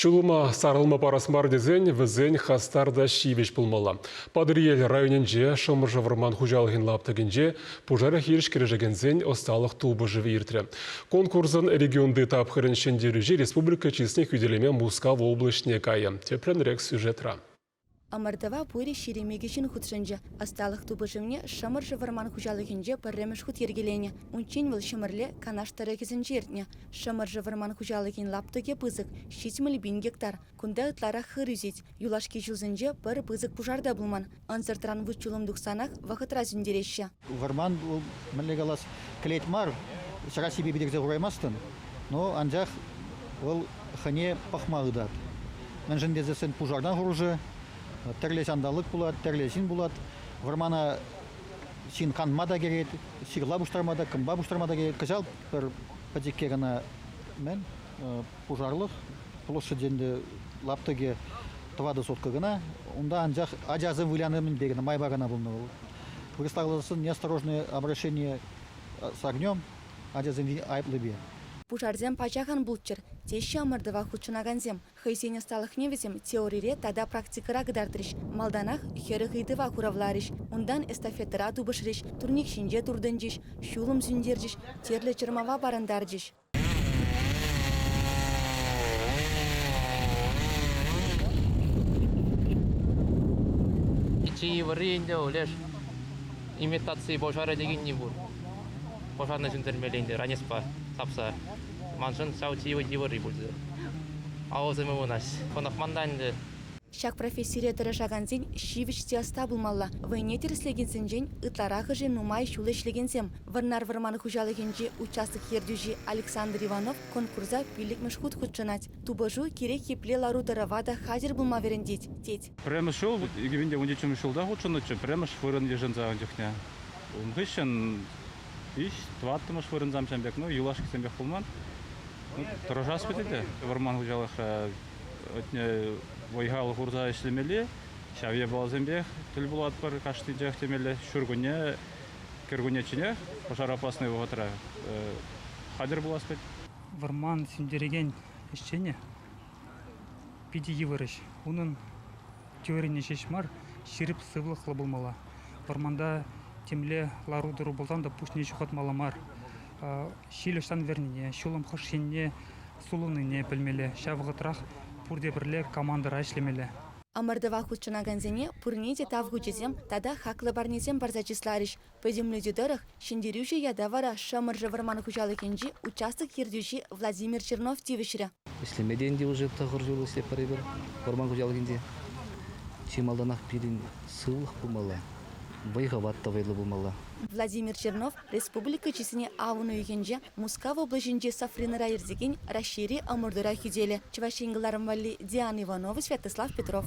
Ҫулӑма сарӑлма парас мар тесен вӗсен хастар та ҫивӗч пулмалла. Патӑрьел районӗнче Шӑмӑршӑ вӑрман хуҫалӑхӗн лаптӑкӗнче пушар хирӗҫ кӗрешекенсен ӑсталӑх тупӑшӑвӗ иртрӗ. Конкурсӑн регионти тапхӑрӗн ҫӗнтерӳҫи республика чысне хӳтӗлеме Мускав облаҫне кайӗ. Тӗплӗнрех сюжетра. Ӑмӑртӑва Пуйрӑс Шеремечӗ ҫын хутшӑнчӗ. Ӑсталӑх тупӑшӑвне Шӑмӑршӑ вӑрман хуҫалӑхӗнче пӗрремӗш хут йӗркеленӗ. Унччен вӑл Ҫӗмӗрле, Канаш тӑрӑхӗсенче иртнӗ. Шӑмӑршӑ вӑрман хуҫалӑхӗн лаптӑкӗ пысӑк, ҫитмӗл пин гектар. Кунта ытларах хыр ӳсет. Юлашки ҫулсенче пӗр пысӑк пушар та пулман. Ӑнсӑртран вут-ҫулӑм тухсанах вӑхӑтра сӳнтереҫҫӗ. Вӑрман мӗнле калас, кӗлет мар, чакассипе питӗрсе хураймастӑн, но анчах вӑл хӑне пӑхма хытать. Мӗншӗн тесессӗн пушартан хурӑшӗ, тӗрлӗ ҫанталӑк пулать, тӗрлӗ ҫын пулать. Вӑрмана ҫын канма та кӗрет, ҫырла пуҫтарма та, кӑмпа пуҫтарма та кӗрет. Кӑҫал пӗр пӗчӗкке кӑна мӗн пушарлӑх площадь ӗнтӗ лаптӑкӗ тӑватӑ сотка кӑна. Унта анчах ачасем выляни мӗнпе кӑна майпа кӑна пулнӑ вӑл. Представленсен неосторожное обращение с огнем ачасем айӑплипе. Пушарсем пачах ан пулччӑр, теҫҫӗ ӑмӑртӑва хутшӑнакансем. Хӑйсен ӑсталӑхне вӗсем теорире тата практикӑра кӑтартрӗҫ, малтанах хӗрӗх ыйтӑва хуравларӗҫ, унтан эстафетӑра тупӑшрӗҫ, турник ҫинче туртӑнчӗҫ, ҫулӑм сӳнтерчӗҫ, тӗрлӗ чӑрмава парӑнтарчӗҫ. Чи йывӑрри ӗнтӗ, Олеж, имитаци пушарӗ текенни пур. Пушарне ҫӗнтермелле ӗнтӗ ранеспа тапса. Маншӑн ҫав чи йывӑрри пулчӗ. Авӑсем ывӑнаҫ. Хӑнӑхман та ӗнтӗ. Ҫак профессире тӑрӑшакансен ҫивӗч те ӑста пулмалла. Вӑйне тӗрӗслекенсенчен ытларахӑшӗ нумай ҫул ӗҫлекенсем. Вӑрнар вӑрман хуҫалӑхӗнчи участок ертӳҫи Александр Иванов конкурса пиллӗкмӗш хут хутшӑнать. Тупӑшу кирек епле лару-тӑрӑва та хатӗр пулма вӗрентет, тет. Пӗрремӗш ҫул икӗ виҫӗ ҫулта хутшӑннӑччӗ, пӗрремӗш вырӑн йышӑнса ун чухне. Ун хыҫҫӑн виҫ, тӑваттӑмӗш вырӑнсам ҫан пек, ну, юлашкисем пек пулман. Тӑрӑшас пӗтет те вӑрман хуҫалӑхра. вӑй-хал хурса ӗҫлемелли ҫав япаласемпех тӗл пулатпӑр кашнинчех темелле ҫуркунне кӗркуннечченех пушар опасный вӑхӑтра хатӗр пулас вӗт. Вӑрман сӳнтерекен ӗҫчене питӗ йывӑр ӗҫ. Унӑн теорине ҫеҫ мар, ҫирӗп сывлӑхлӑ пулмалла. Вӑрманта темле лару-тӑру пулсан та пуҫне ҫухатмалла мар. Ҫил ӑҫтан вӗрнине, ҫулӑм хӑш енне сулӑннине пӗлмелле, ҫав вӑхӑтрах пурте пӗрле командӑра ӗҫлемелле. Ӑмӑртӑва хутшӑнакансене пурне те тав хучӗсем тата хаклӑ парнесем парса чысларӗҫ. Пӗтӗмлетӳ тӑрӑх, ҫӗнтерӳҫӗ ята вара Шӑмӑршӑ вӑрман хуҫалӑхӗнчи участок ертӳҫи Владимир Чернов тивӗҫрӗ. Ӗҫлеме те ӗнтӗ уже тӑхӑр ҫул ӗҫлетпӗр эпир вӑрман хуҫалӑхӗнче. Чи малтанах пирӗн сывлӑх пулмалла, вӑй-хӑват та вӑйлӑ пулмалла. Владимир Чернов Республика чысне авӑн уйӑхӗнче Мускав облаҫӗнчи Сафринра иртекен Раҫҫейри ӑмӑртура ҫителӗ Чӑваш Ен кӑларӑм валли Диана Иванова, Святослав Петров.